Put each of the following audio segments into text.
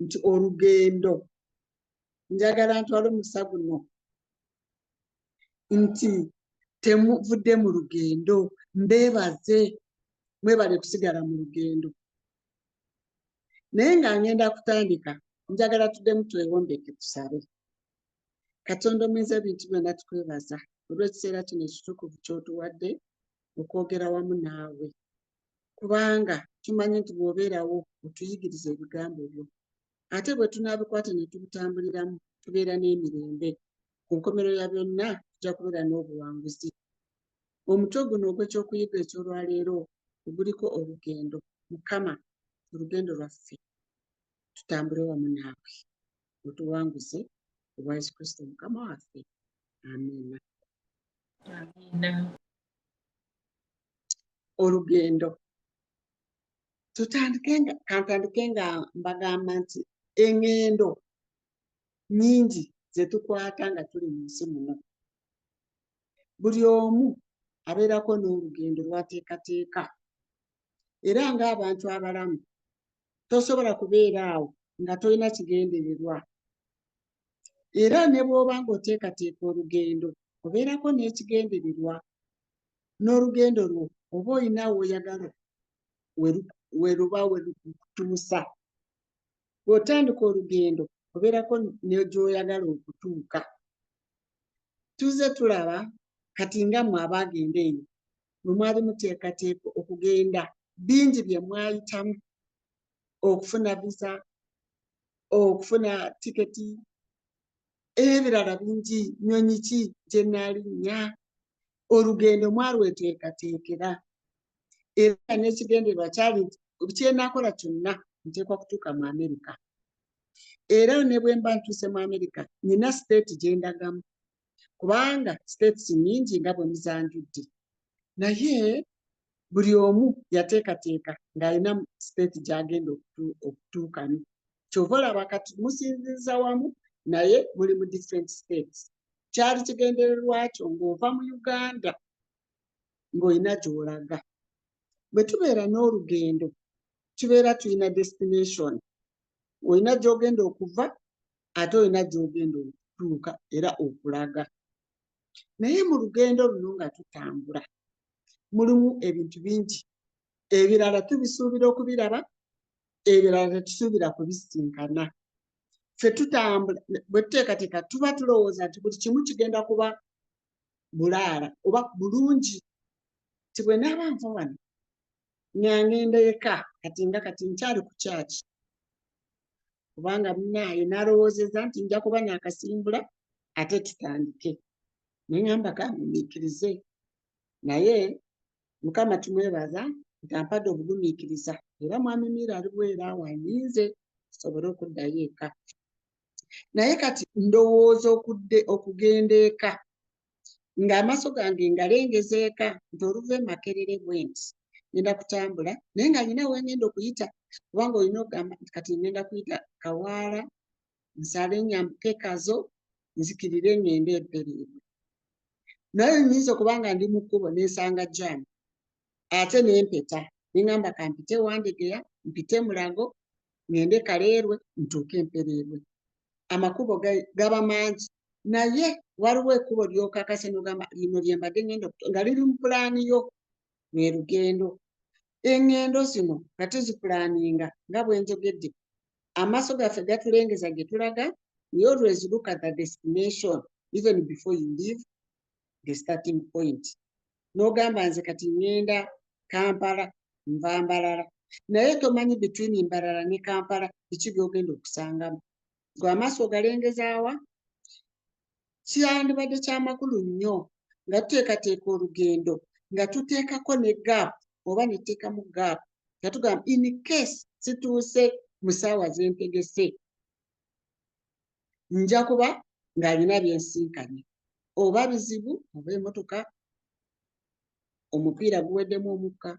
nti olugendo njagala ntwale omusa guno nti temuvudde mu lugendo mbeebaze mwebale kusigala mu lugendo naye nga ngenda kutandika njagala tuddemu twewombeke tusabe katonda omuyinza ebintu byonna tukwebaza olw'ekiseera kino ekitukuvu kyotuwadde okwogera wamu naawe kubanga tumanyi nti bw'obeerawo otuyigiriza ebigambo byo ate bwe tunaabikwata ne tubitambuliramu tubeera n'emirembe ku nkomero ya byonna tujja kubeera n'obuwanguzi omutwe guno ogw'ekyokuyiga eky'olwaleero oguliko olugendo mukama olugendo lwaffe tutambule wamu naawe otuwanguze obwa yesu kristo mukama waffe amiina amiina olugendo tutandike nga kantandike nga mbagamba nti eŋŋendo nyingi ze tukwata nga tuli mu nsi muno buli omu abeerako n'olugendo lwateekateeka era ng'abantu abalamu tosobola kubeera awo nga tolina kigendererwa era ne bw'oba ng'oteekateeka olugendo obeerako n'ekigendererwa n'olugendo lwo oba olina woyagala weruba werukutuusa bw'otandika olugendo obeerako negyoyagala okutuuka tuzze tulaba kati nga mwe abaagenda eyo bwe mwali muteekateeka okugenda bingi bye mwayitamu okufuna visa okufuna tiketi ebirala bingi nyonyi ki gyenalinnya olugendo mwalweteekateekera era n'ekigendererwa kyali kyenakola kyonna nteekwa kutuuka mu amerika era ne bwe mba ntuuse mu amerika nina state gye ndagamu kubanga states nyingi nga bwe muzanjudde naye buli omu yateekateeka ng'alina state gy'agenda okutuukamu kyova olaba kati musinziza wamu naye muli mu different states kyali kigendererwakyo ng'ova mu uganda ng'olina gy'olaga bwe tubeera n'olugendo tubeera tulina destination olina gy'ogenda okuva ate olina gyogenda okutuuka era okulaga naye mu lugendo luno nga tutambula mulimu ebintu bingi ebirala tubisuubira okubiraba ebirala tetusuubira kubisinkana fe tutambula bwetuteekateeka tuba tulowooza nti buli kimu kigenda kuba bulaala oba bulungi ti bwe naaba nva wano ngangenda eka kati nga kati nkyali ku kyaki kubanga munaaye nalowoozeza nti nja kuba nakasimbula ate tutandike neŋamba kamumiikirize naye mukama tumwebaza nti ampadde obugumiikiriza era mwami miira ali bweera wanyinze tusobole okuddayo eka naye kati ndowooza okudde okugenda eka ng'amaaso gange ngalengeza eka nti oluva e makerere bwe nti ngenda kutambula naye nga nyina wengenda okuyita kubanga olina okugamba nti kati ngenda kuyita kawaala nsale nyambuke kazo nzikirire ngende ebbereebwe naye nyinza okuba nga ndi mu kkubo nensanga jaamu ate nempeta nengamba kampite wandegeya mpite mulago ŋŋende kaleerwe ntuuke mpereerwe amakubo gaba mangi naye waliwo ekkubo lyokakase nogamba lino lyembadde ŋenda nga liri mu pulaani yo lwe lugendo eŋŋendo zino nga tuzipulaaninga nga bwenjogedde amaaso gaffe gatulengeza gye tulaga we always look at the destination even before you leave the starting point n'ogamba nze kati ngenda kampala nva mbalala naye tomanyi between mbalala ne kampala biki byogenda okusangamu gwe amaaso ogalengezaawa kyandibadde kyamakulu nnyo nga tuteekateeka olugendo nga tuteekako ne gap oba neteekamu gap nga tugamba in case situuse mu saawa zentegese nja kuba ng'alina byensinkanye oba bizibu oba emotoka omupiira guweddemu omukka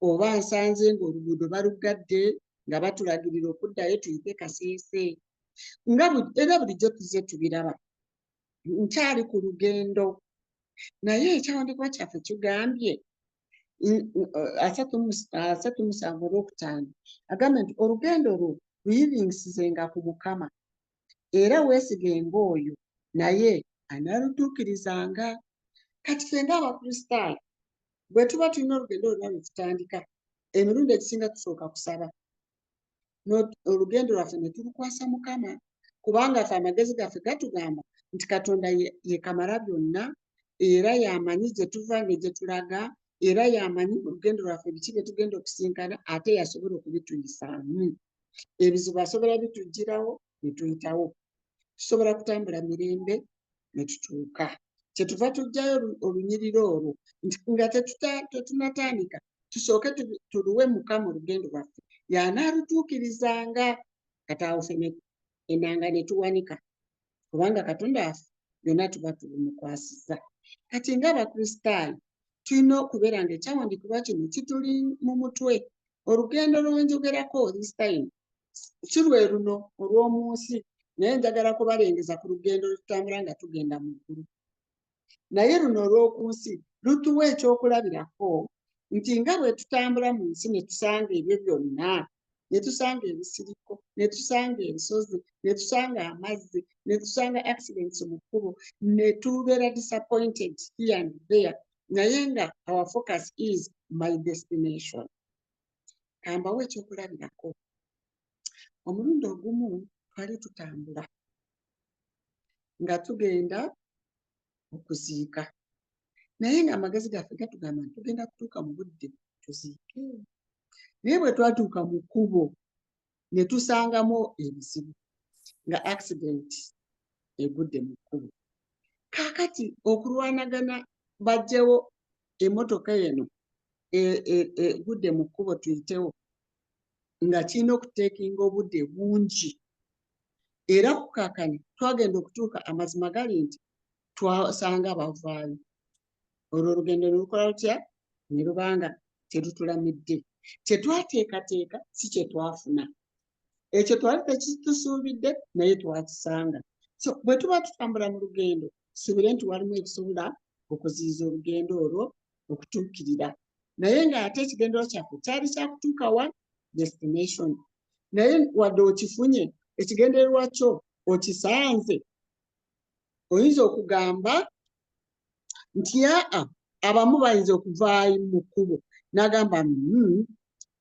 oba nsanze ng'oluguudo baluggadde nga batulagirira okuddayo tuyite kaseese nga era bulijjo tuze tubiraba nkyali ku lugendo naye ekyawandikwa kyaffe kigambye n- n- eh, asatu mu s- asatu mu musanvu olwokutaano agamba nti olugendo lwo luyiriŋisizenga ku mukama era weesigenga oyo naye anaalutuukirizanga kati ffe ng'abakristaayo bwe tuba tulina olugendo lwonna lwe tutandika emirundi egisinga tusooka kusaba olugendo lwaffe ne tulukwasa mukama kubanga fe amagezi gaffe gatugamba nti katonda yekamala byonna era yamanyi gye tuva ne gye tulaga era yamanyi olugendo lwaffe biki bye tugenda okusinkana ate yasobola okubituyisaamu ebizibu asobola bitujjirawo ne tuyitawo tusobola kutambula mirembe ne tutuuka kyetuva tujjayo olunyiriro olwo nti nga tetunatandika tusooke tuluwe mukama olugendo lwaffe yanaalutuukirizanga kataawo fene enanga ne tuwanika kubanga katonda waffe byonna tuba tubumukwasiza kati ngaabakristaayo tulina okubeera nga ekyawandikibwa kino kituli mu mutwe olugendo lwenjogerako this time si lwe luno olw'omu nsi naye njagala kubalengeza ku lugendo lwetutambula nga tugenda mu ggulu naye luno olw'oku nsi lutuwa ekyokulabirako nti nga bwe tutambula mu nsi ne tusanga ebyo byonna ne tusanga ebisiriko ne tusanga ensozi ne tusanga amazzi ne tusanga accidents mu kkubo ne tubeera disappointed here and there naye nga our focus is my destination kambawo ekyokulabirako omulundi ogumu twali tutambula nga tugenda okuziika naye nga amagezi gaffe gatugamba nti tugenda kutuuka mu budde tuziike naye bwe twatuuka mu kkubo ne tusangamu ebizibu nga accident egudde mu kkubo kaakati okulwanagana bajjewo emmotoka eno egudde e, e, mu kkubo tuyitewo nga kirina okuteekinga obudde bungi era kukakana twagenda okutuuka amazima gali nti twasanga bavaayo olwo olugendo nelukola lutya ne lubanga terutulamidde kyetwateekateeka si kyetwafuna ekyo twali tekitusuubidde naye twakisanga so bwe tuba tutambula mu lugendo subire nti walimu ebisobola okuziyiza olugendo olwo okutuukirira naye ng'ate ekigendero kyaffe kyali kyakutuuka wa destination naye wadde okifunye ekigendererwa kyo okisanze oyinza okugamba nti aa abamu bayinza okuvaayo mu kkubo n'agamba mm,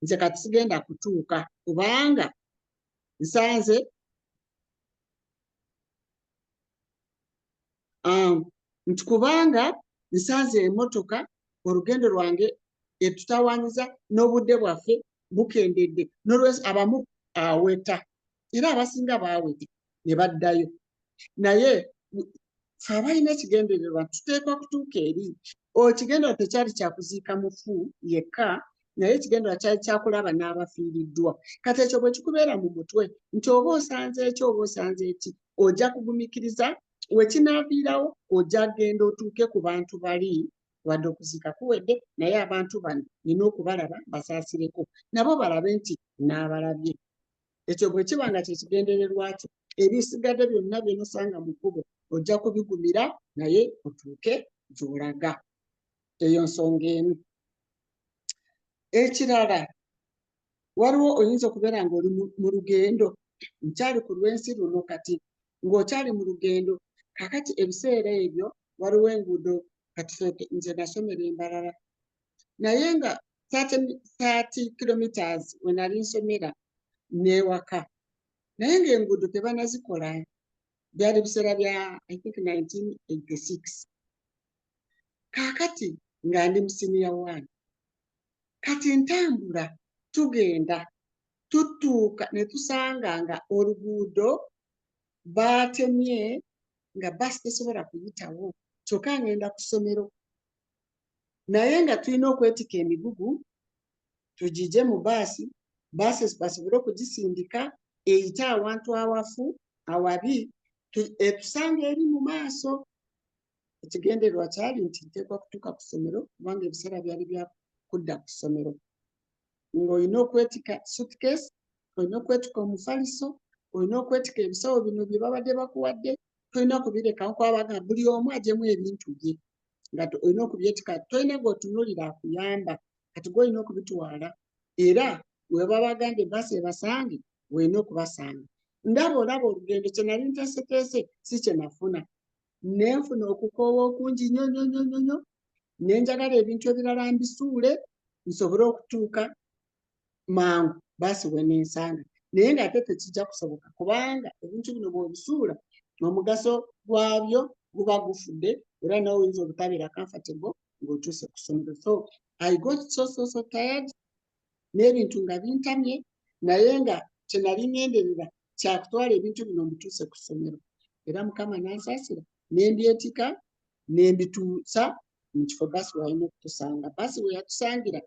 nze kati sigenda kutuuka kubanga nsanze um, nti kubanga nsanze emotoka olugendo lwange etutawanyiza n'obudde bwaffe bukendedde nolwekyo abamu aweta era abasinga baawete ne baddayo naye fe abalina ekigendererwa tuteekwa kutuuka eri ekigendererwa tekyali kyakuziika mufu yekka naye ekigendererwa kyali kyakulaba n'abafiiriddwa kati ekyo bwe kikubeera mu mutwe nti oba osanze eki oba osanze eki ojja kugumikiriza wekinaaviirawo ojja genda otuuke ku bantu bali wadde okuziika kuwedde naye abantu bano nina okubalaba basaasireko nabo balabe nti naabalabye ekyo bwe kiba nga kye kigendererwa kyo ebisigadde byonna byenosanga mu kkubo ojja kubigumira naye otuuke gy'olaga eyo nsonga emu ekirala waliwo oyinza okubeera ng'oli mu lugendo nkyali ku lw'ensi luno kati ng'okyali mu lugendo kakati ebiseera ebyo waliwo enguudo kati nze nasomera embalala naye nga 30 kilometers wenali nsomera newaka naye nga enguudo tebanazikola byali biseera bya i think 1986 kakati nga ndi musiniya one kati ntambula tugenda tutuuka netusanga nga oluguudo baatemye nga basi tesobola kuyitawo kyokka ngenda ku ssomero naye nga tulina okwetika emigugu tugije mu baasi baasi basobole okugisindika eyite awantu awafu awabi etusanga eri mu maaso ekigendererwa kyali nti nteekwa kutuuka ku ssomero kubanga ebiseera byali bya kudda ku ssomero ng'olina okwetika sutkes olina okwetika omufaliso olina okwetika ebisawo bino bye babadde bakuwadde tolina kubirekawo kwabaga buli omu ajemu ebintu bye nga olina okubyetika tolina gweotunulira akuyamba kati gweolina okubitwala era weba bagambye basi ebasange olina okubasanga ndaba olaba olugendo kyenali nteseteese si kyenafuna nenfuna okukoowa okungi nyo nyo nyo nyo nyo nenjagala ebintu ebirala mbisuule nsobole okutuuka mangu baasi wenensanga naye ngaate tekijja kusoboka kubanga ebintu bino bwebisuula omugaso gwabyo guba gufudde era nawe oyinza obutabeera comfortable ng'otuuse ku ssomero so i got so so so tired n'ebintu nga bintamye naye nga kyenali ngenderera kyakutwala ebintu bino mbituuse ku ssomero era mukama nansaasira nembyetika nembituutsa mukifo basi wayina okutusanga basi weyatusangira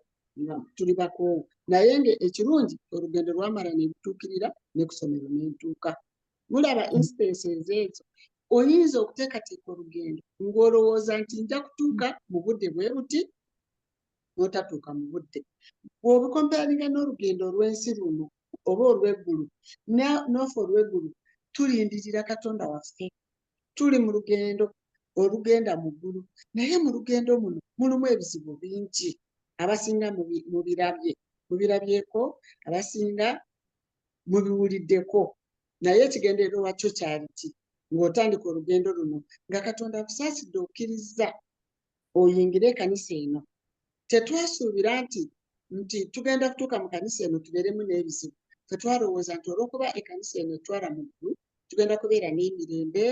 nga tuli bakoowu naye nga ekirungi olugendo lwamala nebituukirira nekusomero nentuuka mulaba instance ezeezo oyinza okuteekateeka olugendo ng'olowooza nti nja kutuuka mu budde bwe buti n'otatuuka mu budde bw'obukompayalinga n'olugendo olw'ensi luno oba olw'eggulu n'ofa olw'eggulu tulindirira katonda waffe tuli mu lugendo olugenda mu ggulu naye mu lugendo muno mulimu ebizibu bingi abasinga mubirabye mubirabyeko abasinga mubiwuliddeko naye ekigendererwa wakyo kyaliki ng'otandika olugendo luno nga katonda akusaasidde okkirizza oyingire ekanisa eno tetwasuubira nti nti tugenda kutuuka mu kanisa eno tubeeremu n'ebizibu tetwalowooza nti olwokuba ekanisa eno etwala mu ggulu tugenda kubeera n'emirembe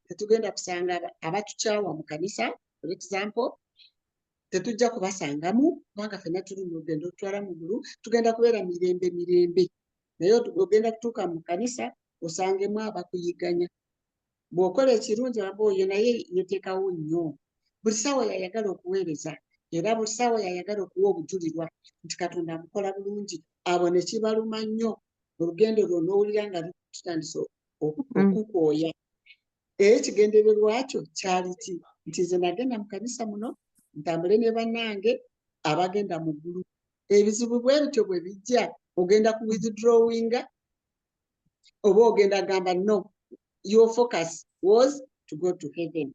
tetugenda kusanga abatukyawa mu kanisa for example tetujja kubasangamu kubanga fena tuli mu lugendo olutwala mu ggulu tugenda kubeera mirembe mirembe naye ogenda kutuuka mu kanisa osangemu abakuyiganya bw'okola ekirungi olaba oyo naye yeteekawo nnyo buli ssaawa yayagala okuweereza era buli ssaawa yayagala okuwa obujulirwa nti katonda amukola bulungi abo ne kibaluma nnyo olugendo lwo n'owulira nga lutandise mm. okukwoya era ekigendererwa kyo kyali ki nti nze nagenda mu kanisa muno ntambule ne bannange abagenda mu ggulu ebizibu bwe bityo bwe bijja ogenda ku withdrawinga oba ogenda gamba no your focus was to go to heaven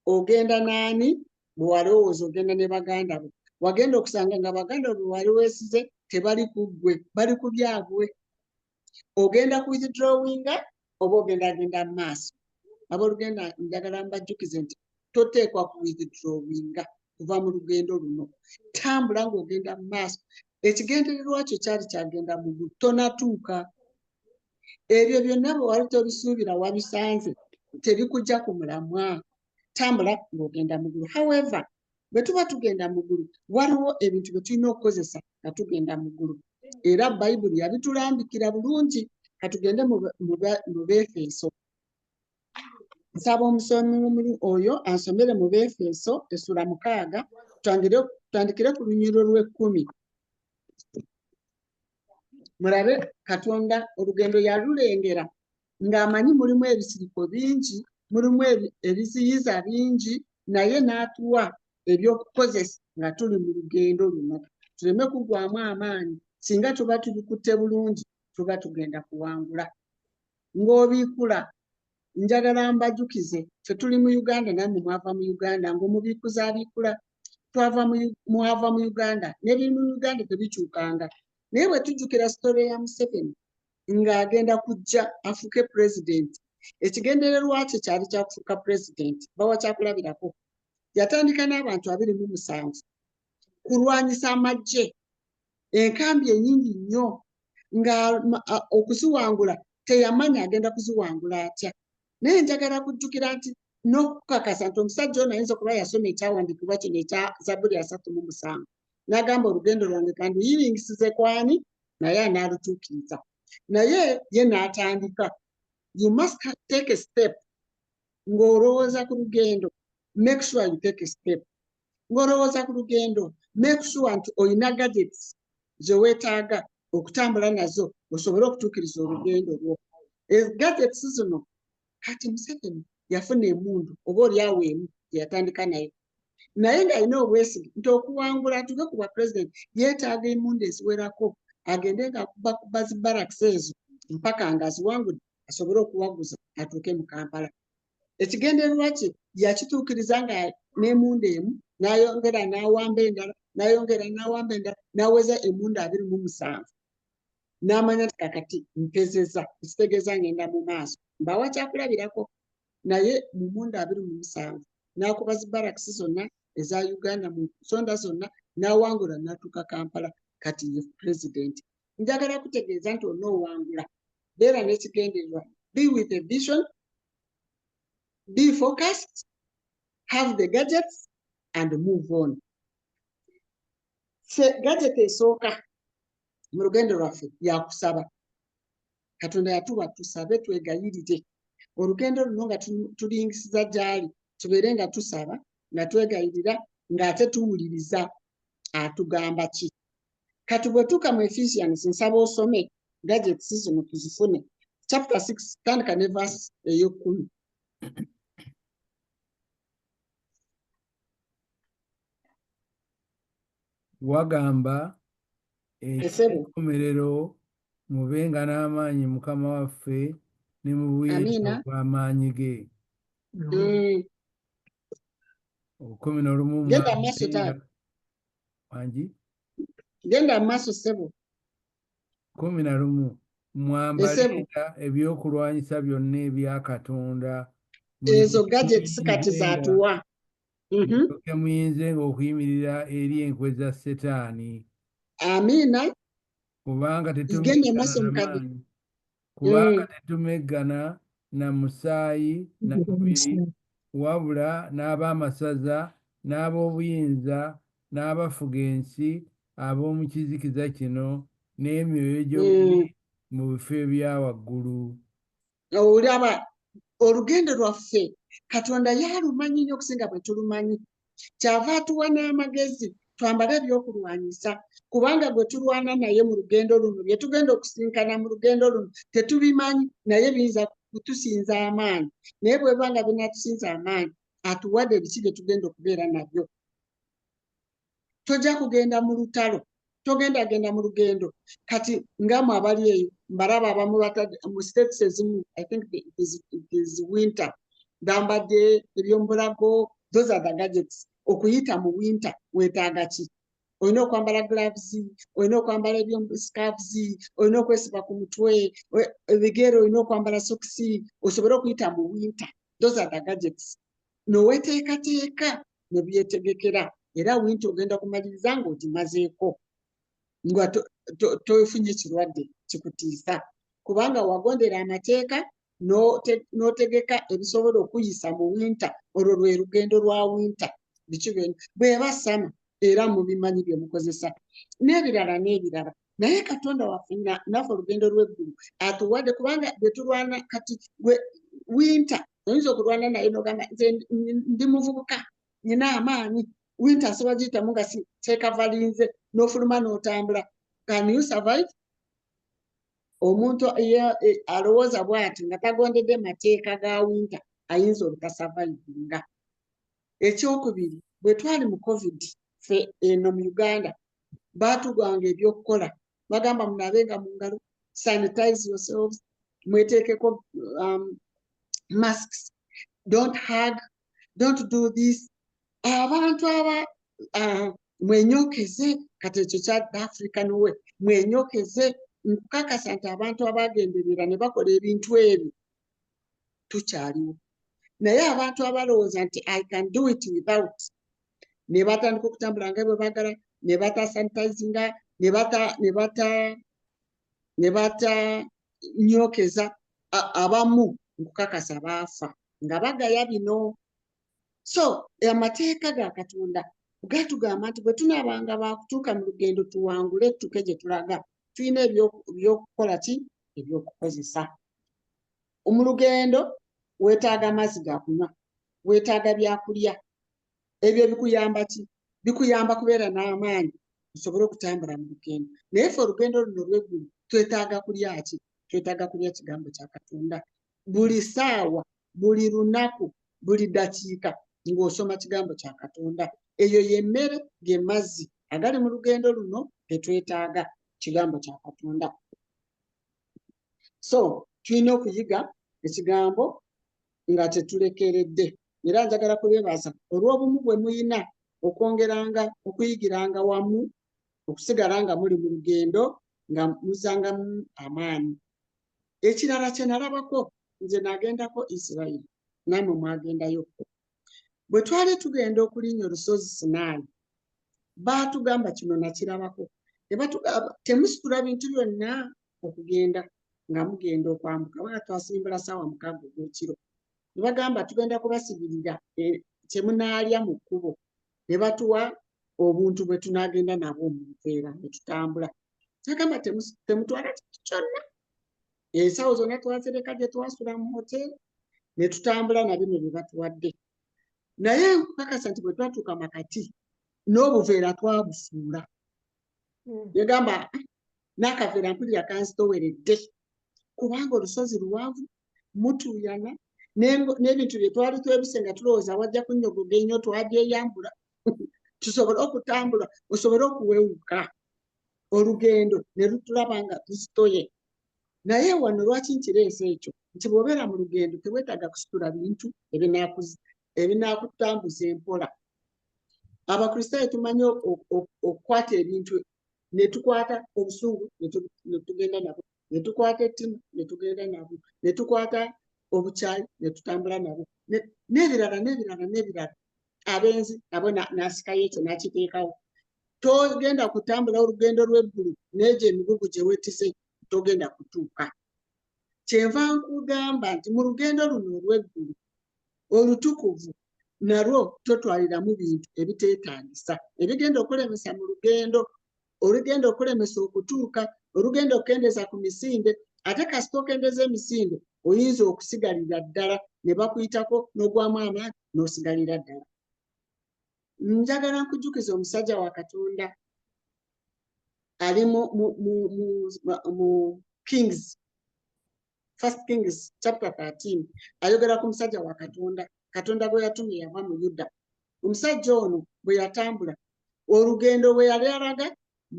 ogenda naani bwewalowooza ogenda ne baganda bo wagenda okusanga nga baganda bo bewali wesize tebali ku ggwe bali ku byabwe ogenda ku withdrawinga oba ogenda agenda mu maaso abolugenda njagala mbajjukize nti toteekwa ku withdrawinga kuva mu lugendo luno tambula ng'ogenda mu maaso ekigendererwa kyo kyali kyagenda mu ggulu tonatuuka ebyo byonna bwe wali tobisuubira wabisanze tebikujja ku mulamwa tambula ng'ogenda mu ggulu however bwe tuba tugenda mu ggulu waliwo ebintu bye tulina okukozesa nga tugenda mu ggulu era bayibuli yabitulambikira bulungi katugende mu befeeso nsaba omusomi oyo asomere mu befeso esula mukaaga tutandikire ku lunyiro lw'ekkumi mulabe katonda olugendo yalulengera ng'amanyi mulimu ebisiriko bingi mulimu ebiziyiza bingi naye n'atuwa ebyokukozesa nga tuli mu lugendo luno tuleme kugwamu amaanyi singa tuba tubikutte bulungi tuba tugenda kuwangula ng'obiikula njagala mbajukize fe tuli mu uganda namwe mwava mu uganda ngaomubiikuzi abiikula twava mwava mu uganda nebiri mu uganda tebikyukanga naye bwe tujjukira sitore ya museveni ng'agenda kujja afuuke pulezidenti ekigendererwa kye kyali kyakufuuka pulezidenti bawa kyakulabirako yatandika n'abantu abiri mu musanvu kulwanyisa amagye enkambi enyingi nnyo nga okuziwangula teyamanya agenda kuziwangula atya naye njagala kujjukira nti n'okukakasa nti omusajja ono ayinza okuba yasoma ekyawandiikibwa kino ekya zabuli asatu mu musanvu n'agamba olugendo lwange kanduyiringisize kwani naye anaalutuukiriza naye ye n'atandika you must take a step ng'olowooza ku lugendo make sure you take a step ng'olowooza ku lugendo make sure nti olina gadgets ze weetaaga okutambula nazo osobole okutuukiriza olugendo lwo e, gadgets zino kati museveni yafuna emundu oba olyawo emu gyeyatandika nayo naye ng'alina obwesige nti okuwangula atuuke ku bwa president yeetaaga emundu eziwerako agende ngaakuba kuba zi baraks ezo mpaka ng'aziwangudde asobole okuwaguza atuuke mu kampala ekigendererwa kye yakituukiriza nga n'emunda emu n'ayongera n'awamba endala n'ayongera n'awamba endala n'aweza emunda abiri mu musanvu n'amanya nti kakati mpezeza ekitegeeza ngenda mu maaso mbawa kyakulabirako naye mu munda abiri mu musanvu n'akuba zi barakisi zonna eza uganda mu nsonda zonna n'awangula n'atuuka kampala kati ye pulezidenti njagala kutegeeza nti onoowangula beera n'ekigendererwa be with a vision be focused have the gadgets and move on se gadget esooka mu lugendo lwaffe yakusaba katonda yatuwa tusabe twegayirire olugendo luno nga tulingisiza gyali tubeere nga tusaba nga twegayirira ng'ate tuwuliriza atugamba ki kati bwetuuka mu ephesians nsaba osome gadgets zino tuzifune chapter six tandika ne verse ey'ekkumi wagamba eky'enkomerero mubenga n'amaanyi mukama waffe ne mu buyinza bw'amaanyi ge mm. kumi n'olumu genda maaso taata wangi genda maaso sebo kumi na lumu mwambalira ebyokulwanyisa byonna ebya katonda ezo gadgets kati zatuwa mhm. muyinze nga okuyimirira eri enkwe za setaani amiina kubanga tetumaanyi kubanga mm. tetumeggana na musaayi na mubiri wabula n'ab'amasaza n'ab'obuyinza n'abafuga ensi ab'omu kizikiza kino n'emyoyo gy'obubi mm. mu bifo ebya waggulu olaba olugendo lwaffe katonda yalumanyi nnyo okusinga bwe tulumanyi kyava atuwa n'amagezi twambale ebyokulwanyisa kubanga gwe tulwana naye mu lugendo luno bye tugenda okusinkana mu lugendo luno tetubimanyi naye biyinza kutusinza amaanyi naye bweba nga binatusinza amaanyi atuwadde ebiki bye tugenda okubeera nabyo tojja kugenda mu lutalo togenda agenda mu lugendo kati ngamu abali eyo mbalaba abamu batadde mu states ezimu i think it is, it is winter bambadde ebyomubulago those are the gadgets okuyita mu winter wetaaga ki olina okwambala gloves olina okwambala ebyoscarves olina okwesiba ku mutwe ebigere olina okwambala sokisi osobole okuyita mu winter those are the gadgets noweteekateeka nebyetegekera era winti ogenda kumaliriza nga ogimazeeko nga tofunye kirwadde kikutiisa kubanga wagondera amateeka n'otegeka ebisobola okuyisa mu winta olwo lwe lugendo lwa winta biki bweba sama era mubimanyi byemukozesa n'ebirala n'ebirala naye katonda waffe naffe olugendo lweggulu atuwadde kubanga byetulwana kati gwe winter oyinza okulwana naye nogamba nze ndi muvubuka nyina amaanyi winter asobola giyitamu nga tekavalinze nofuluma notambula can you survive omuntu e, alowooza bwati nga tagondedde mateeka ga winter ayinza obutasavayivinga ekyokubiri bwe twali mu covid fe eno mu uganda baatugwanga ebyokukola bagamba munaabe nga mu ngalo sanitize yourselves mweteekeko um, masks don't hug don't do this abantu aba uh, mwenyokeze kati ekyo kya african we mwenyokeze nkukakasa nti abantu abagenderera ne bakola ebintu ebyo tukyaliwo naye abantu abalowooza nti i can do it without ne batandika okutambula nga bwe bagala ne bata sanitizinga ne bata ne bata ne bata nyokeza abamu nkukakasa baafa nga bagaya bino so amateeka ga katonda gatugamba nti bwe tunaabanga baakutuuka mu lugendo tuwangule tuke gye tulaga tulina ebyokukola ki ebyokukozesa mu lugendo weetaaga amazzi ga kunywa weetaaga byakulya ebyo bikuyamba ki bikuyamba kubeera n'amaanyi osobole okutambula mu lugendo naye fe olugendo luno lweggulu twetaaga kulya ki twetaaga kulya kigambo kya katonda buli saawa buli lunaku buli dakiika ng'osoma kigambo kya katonda eyo yemmere ge mazzi agali mu lugendo luno getwetaaga kigambo kya katonda so tulina okuyiga ekigambo nga tetulekeredde era njagala kubebaza olw'obumu bwe muyina okwongeranga okuyigiranga wamu okusigala nga muli mu lugendo nga muzangamu amaanyi ekirala kye nalabako nze nagendako isirayiri namwe mwagendayo bwe twali tugenda okulinya olusozi sinaani baatugamba kino nakirabako ne batugamba temusitula bintu byonna okugenda nga mugenda okwambuka baa twasimbula saawa mukaaga ogwekiro ne bagamba tugenda kubasibirira e, kye munaalya mu kkubo ne batuwa obuntu bwe tunaagenda nabwo mu nkeera ne tutambula kyagamba temutwala kintu kyonna ensawo zonna twazireka gye twasula mu hoteeri ne tutambula na bino bye batuwadde naye nkukakasa nti bwe twatuuka makati n'obuveera twabusuula hmm. negamba nakavera mpulira kanzitoweredde kubanga olusozi luwanvu mutuuyana n'ebintu bye twali twebise nga tulowooza wajja kunyogoga ennyo twagyeyambula tusobole okutambula osobole okuwewuka olugendo ne lutulaba nga tuzitoye naye wano lwaki nkireesa ekyo nti bwobeera mu lugendo tewetaaga kusitula bintu ebinaakutambuza empola abakristaayo tumanyi okukwata ebintu netukwata obusungu netugenda nabwo netukwata ettimu netugenda nabwo netukwata obukyayi netutambula nabwo nebirala nebirala nebirala abenzi nabo nasikayo ekyo nakiteekawo togenda kutambula olugendo lweggulu neegyo emigugu gyewetise togenda kutuuka kyenva nkugamba nti mu lugendo luno olw'eggulu olutukuvu nalwo totwaliramu bintu ebiteetaagisa ebigenda okulemesa mu lugendo olugenda okulemesa okutuuka olugenda okukendeeza ku misinde ate kasita okendeeza emisinde oyinza okusigalira ddala ne bakuyitako n'ogwamu amaanyi n'osigalira ddala njagala nkujukiza omusajja wa katonda ali mu kings first kings chapter 13 ayogera ku musajja wa katonda katonda gwe yatuma eyava mu yuda omusajja ono bwe yatambula olugendo bwe yali alaga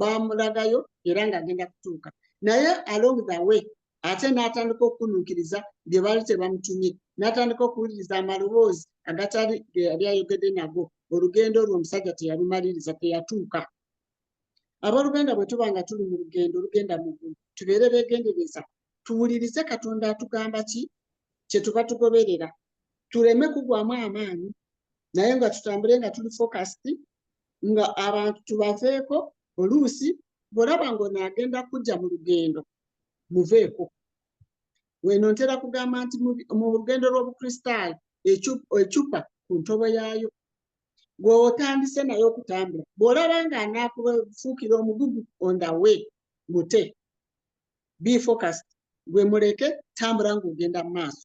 bamulagayo era ng'agenda kutuuka naye along the way ate n'atandika okukununkiriza bye baali tebamutumye n'atandika okuwuliriza amaloboozi agatali ge yali ayogedde nago olugendo olwo omusajja teyalumaliriza teyatuuka aboluganda bwe tuba nga tuli mu lugendo olugenda mu ggulu tubeere beegendereza tuwulirize katonda atugamba ki kye tuba tugoberera tuleme kugwamu amaanyi naye nga tutambule nga tuli focused nga abantu tubaveeko oluusi bwolaba ngaono agenda kujja mu lugendo muveeko weno ntera kugamba nti mu lugendo lw'obukristaayo ecupa ku ntobo yaayo gwewotandise naye okutambula bwolaba nga anaakufuukira omugugu on the way mute be focused gwe muleke tambula ngaogenda mu maaso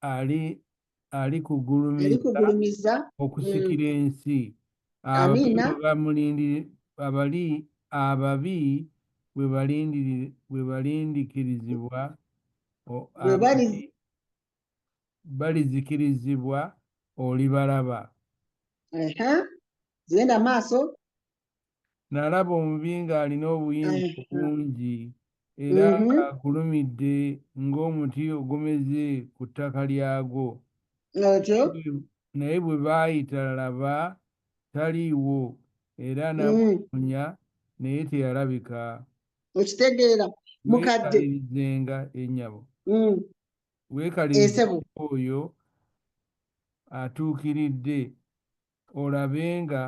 ali alikugulumiza okusikira mm. ensi amiina abali ababi bwebalindikirizibwa balizikirizibwa olibalaba zigenda maaso nalaba omubi ng'alina obuyinza obungi era mm-hmm. ng'agulumidde ng'omuti ogumeze ku ttaka lyagwo naye bwe baayita laba taliiwo era mm. namuunya naye teyalabika okitegeera mukadde nga ennyabo mm. weekalize oyo atuukiridde olabe nga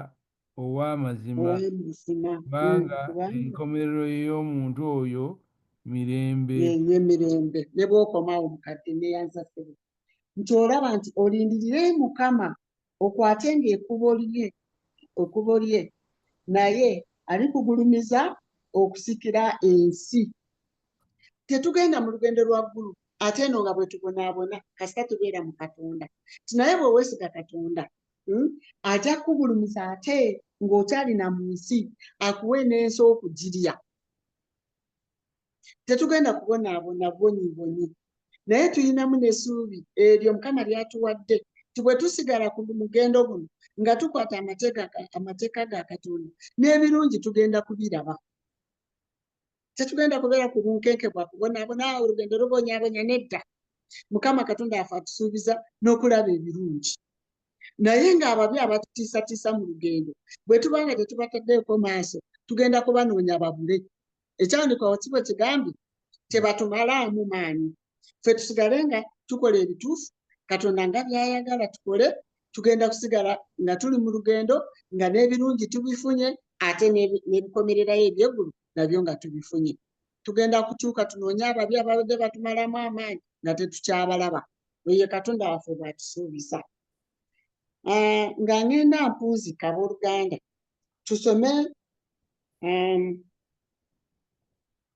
ow'amazima, kubanga enkomerero ey'omuntu oyo mirembe. Ye mirembe. Ne bw'okomawo mukadde neyanza ssebo nti olaba nti olindirire Mukama okwate ng'ekubo lye ekubo lye naye alikugulumiza okusikira ensi. Tetugenda mu lugendo lwa ggulu ate eno nga bwetubonaabona kasita tubeera mu katonda ti naye bwewesiga katonda hmm, ajja kugulumiza ate ng'okyalina mu nsi akuwe n'ensi okugirya tetugenda kubonaabona bwonyi bwonyi naye tulinamu n'esuubi eryo mukama lyatuwadde ti bwe tusigala ku mugendo guno nga tukwata amateeka ga katonda n'ebirungi tugenda kubiraba tetugenda kubeera ku bunkenke bwa kubonaabona olugendo lubonyabonya nedda mukama katonda yafe atusuubiza n'okulaba ebirungi naye ng'ababi abatutiisatiisa mu lugendo bwe tuba nga tetubataddeeko maaso tugenda kubanoonya babule ekyandikwa wakibo kigambye tebatumalaamu maanyi ffe tusigale nga tukola ebituufu katonda nga byayagala tukole tugenda kusigala nga tuli mu lugendo nga n'ebirungi tubifunye ate n'ebikomererayo ebyeggulu nabyo nga tubifunye tugenda kukyuka tunoonye ababi ababadde batumalamu amaanyi nga tetukyabalaba oyo katonda waffe bwatusuubiza ah, nga ngenda mpunzika abooluganda tusome um,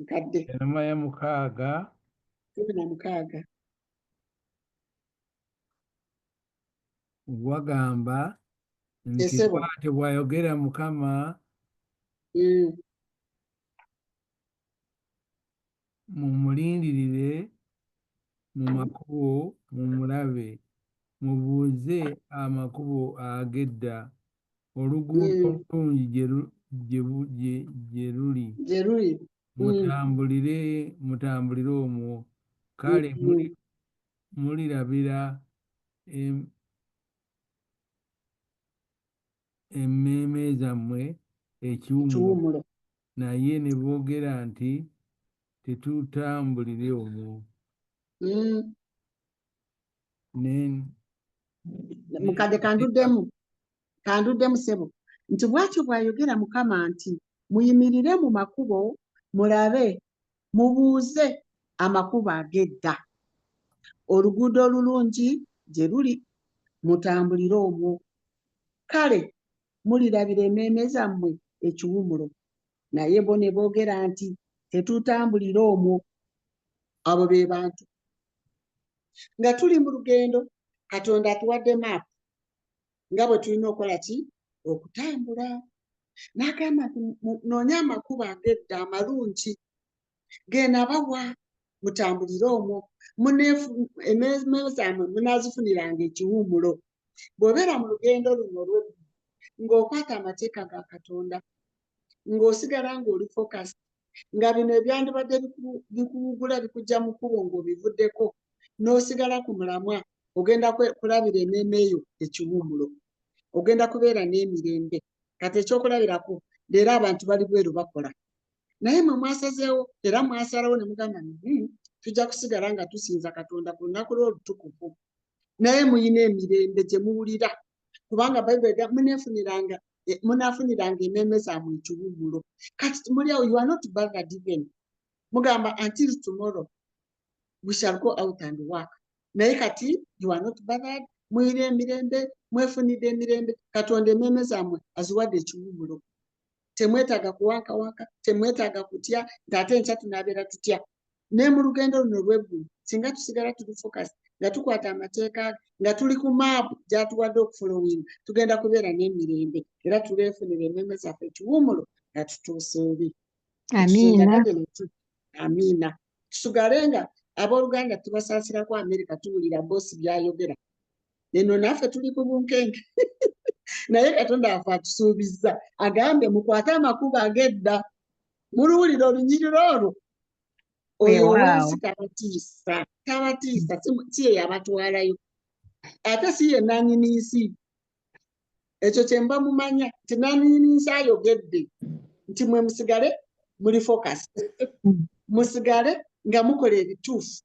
nkadde enuma ya mukaaga kumi na mukaaga wagamba nti Esebo. bw'atyo bw'ayogera mukama Mm, mumulindirire mu makubo mumulabe mubuuze amakubo ag'edda oluguudo Mm. olulungi gye lu- gye bu- gye- gye luli gye luli Mm. mutambulire mutambulire omwo kale Mm. muli- mulirabira em- emmeeme zammwe ekiwummulo ekiwummulo naye ne boogera nti tetutambulire omwo Mm. Ne- ne- mukadde kanduddemu kanduddemu ssebo nti bw'atyo bw'ayogera mukama nti muyimirire mu makubo mulabe mubuuze amakubo ag'edda oluguudo olulungi gye luli mutambulire omwo kale mulirabira emmeeme zammwe ekiwumulo naye bo ne boogera nti tetutambulira omwo abo be bantu nga tuli mu lugendo katonda atuwadde maapu nga bwe tulina okukola ki okutambula n'agamba nti noonya amakubo agedda amalungi genabawa mutambulire omwo ememe zaamwe munazifuniranga ekiwumulo bwobeera mu lugendo luno lwe ng'okwata amateeka ga katonda ng'osigala ng'oli focus nga bino ebyandibadde bikuwugula bikujja mu kkubo ng'obivuddeko n'osigala ku mulamwa ogenda kulabira ememe eyo ekiwumulo ogenda kubeera n'emirembe kati ekyokulabirako leero abantu bali bweru bakola naye mwe mwasazeewo era mwasalawo ne mugamba ni hmm, tujja kusigala nga tusinza katonda ku lunaku lw'olutukuvu naye muyina emirembe gye muwulira kubanga bayibuli ga munefuniranga eh, munafuniranga emeeme zaamwe ekiwummulo kati muli awo you are not bothered even mugamba until tomorrow we shall go out and work naye kati you are not bothered muyina emirembe mwefunidde emirembe katonda emeeme zaamwe aziwadde ekiwummulo temwetaaga kuwankawanka temwetaaga kutya nti ate nkya tunaabeera tutya naye mu lugendo luno olweggulu singa tusigala tuli focus nga tukwata amateeka ge nga tuli ku maapu gyatuwadde okufulowinga tugenda kubeera n'emirembe era tuleefunira emmeme zaffe ekiwumulo nga tutuusa eri amiina amiina tusigale nga abooluganda tubasaasirako amerika tuwulira boosi byayogera eno naffe tuli ku bunkenke naye katonda afe atusuubizza agambye mukwate amakubo agedda muluwulira olunyiriro olwo oyo owensi tabatiisa tabatiisa si ye yabatwalayo ate si ye nanyini nsi ekyo kyemba mumanya nti naniininsa ayogedde nti mwe musigale muli focus musigale nga mukola ebituufu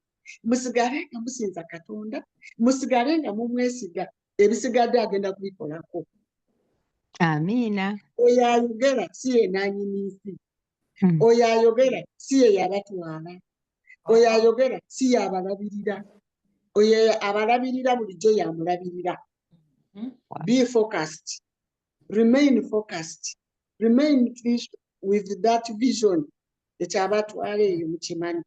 musigale nga musinza katonda musigale nga mumwesiga ebisigadde agenda kubikolako amiina oyo ayogera si yenanyini nsi hmm. oyo ayogera si ye yabatwala oyo ayogera si yabalabirira oyo abalabirira bulijjo yamulabirira hmm? be focused remain focused remain with that vision ekyabatwala eyo mukimanyi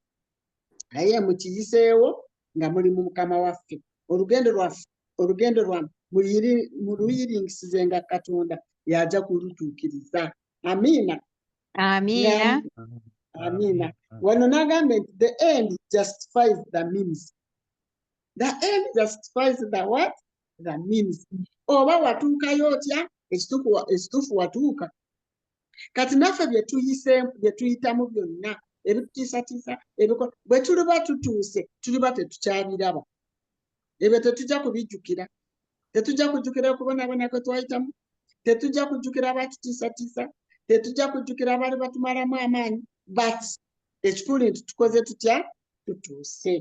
naye mukiyiseewo nga muli mu mukama waffe olugendo lwaffe olugendo lwa muluyirinkisize nga katonda yaja kulutuukiriza amiina amiina amiina wano n'agamba nti the end justifies the means the end justifies the what the means oba watuukayo otya ekituufu watuuka kati naffe byetuyiseemu byetuyitamu byonna ebitutiisatiisa ebiko bwe tuliba tutuuse tuliba tetukyabiraba ebyo tetujja kubijjukira tetujja kujjukira okubonaabona kwe twayitamu tetujja kujjukira abatutiisatiisa tetujja kujjukira abaali batumalamu amaanyi but ekikulu nti tukoze tutya tutuuse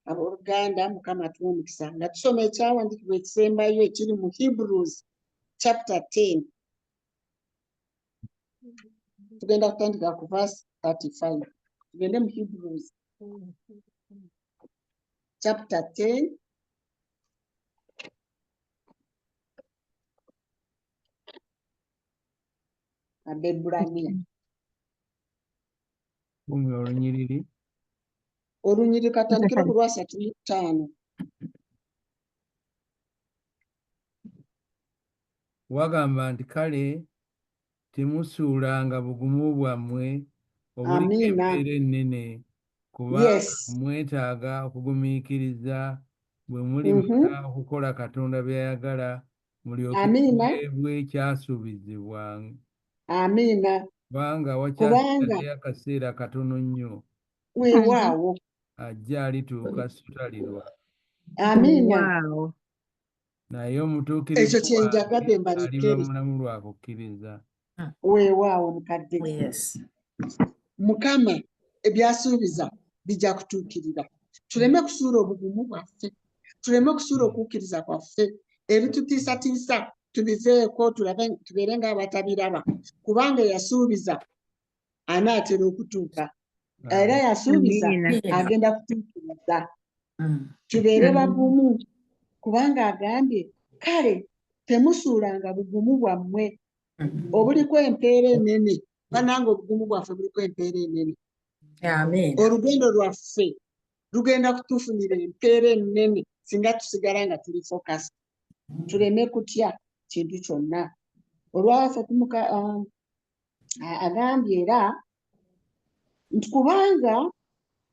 abooluganda mukama tuwa omukisa nga tusoma ekyawandiikibwa ekisembayo ekiri mu hebrews chapter 10 tugenda kutandika ku verse 35 tugende mu hebrews chapter 10 abebbulaniya Bumi olunyiriri olunyiriri katandikira ku lwasatu mu ttaano wagamba nti kale temusuulanga bugumu bwammwe obuliko embeera ennene kuba yes. mwetaaga okugumiikiriza bwe muli mm -hmm. okukola katonda byayagala mulyokeebwe ekyasuubizibwa amiina kubanga wakyasigadeyo akaseera katono nnyo weewaawo ajja alituuka sutalirwa amiina naye omutuukirivu ekyo kyenjagadde mbalikkeri mulamu lwa kukkiriza hmm. weewaawo mukadde oh, mukama ebyasuubiza bijja kutuukirira tuleme kusuula obugumu bwaffe tuleme kusuula hmm. okukkiriza kwaffe ebitutiisatiisa tubiveeko tulabe tubeere ng'abatabiraba kubanga yasuubiza anaatera okutuuka era yasuubiza agenda kutuukiriza mm. tubeere mm. bagumu kubanga agambye kale temusuulanga bugumu bwammwe mm. obuliko empeera enene bananga obugumu bwaffe buliko empeera enene olugendo lwaffe lugenda kutufunira empeera enene singa tusigala nga tuli focus tuleme kutya kintu kyonna olwaffe tumuka um, agambye era nti kubanga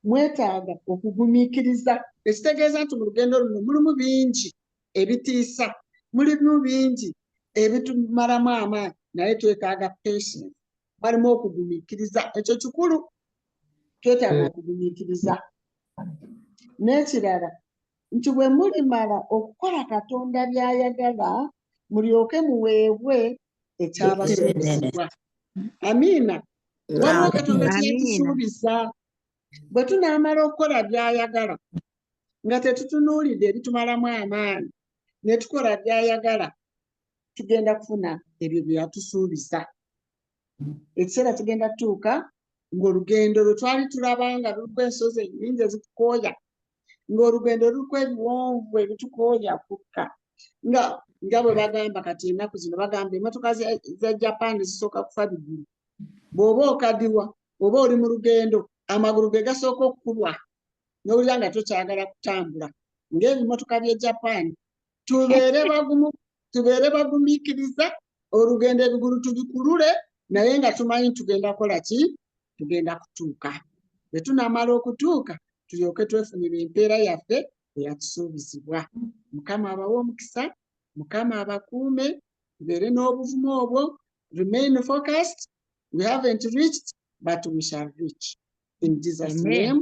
mwetaaga okugumiikiriza ekitegeeza nti mu lugendo luno mulimu bingi ebitiisa mulimu bingi ebitumalamu amaanyi naye twetaaga patience balimu okugumiikiriza ekyo kikulu twetaaga eh. okugumiikiriza n'ekirala nti bwe mulimala okukola katonda by'ayagala mulyoke muweebwe ekyabasuubizibwa amiina waliwo katonda kyeyatusuubiza bwe tunaamala okukola byayagala nga tetutunuulidde ebitumalamu amaanyi ne tukola byayagala tugenda kufuna ebyo bye yatusuubiza ekiseera kigenda tutuuka ng'olugendo lwe twali tulaba nga luliko ensozi ennyingi ezitukooya ng'olugendo luliko ebiwonvu ebitukooya kukka nga nga bwe bagamba kati ennaku zino bagamba emotoka za japan zisooka kufa bigulu bw'oba okadiwa oba oli mu lugendo amagulu ge gasooka okukubwa n'owulira nga tokyagala kutambula ng'ebimotoka bye japan tubeere bagumu tubeere bagumiikiriza olugendo ebigulu tubikulule naye nga tumanyi tugenda kola ki tugenda kutuuka bwe tunamala okutuuka tulyoke twefunira empeera yaffe eyatusuubizibwa mukama abawe omukisa mukama abakuume tubeere n'obuvumu obwo remain focused we haven't reached but we shall reach in jesus Amen. name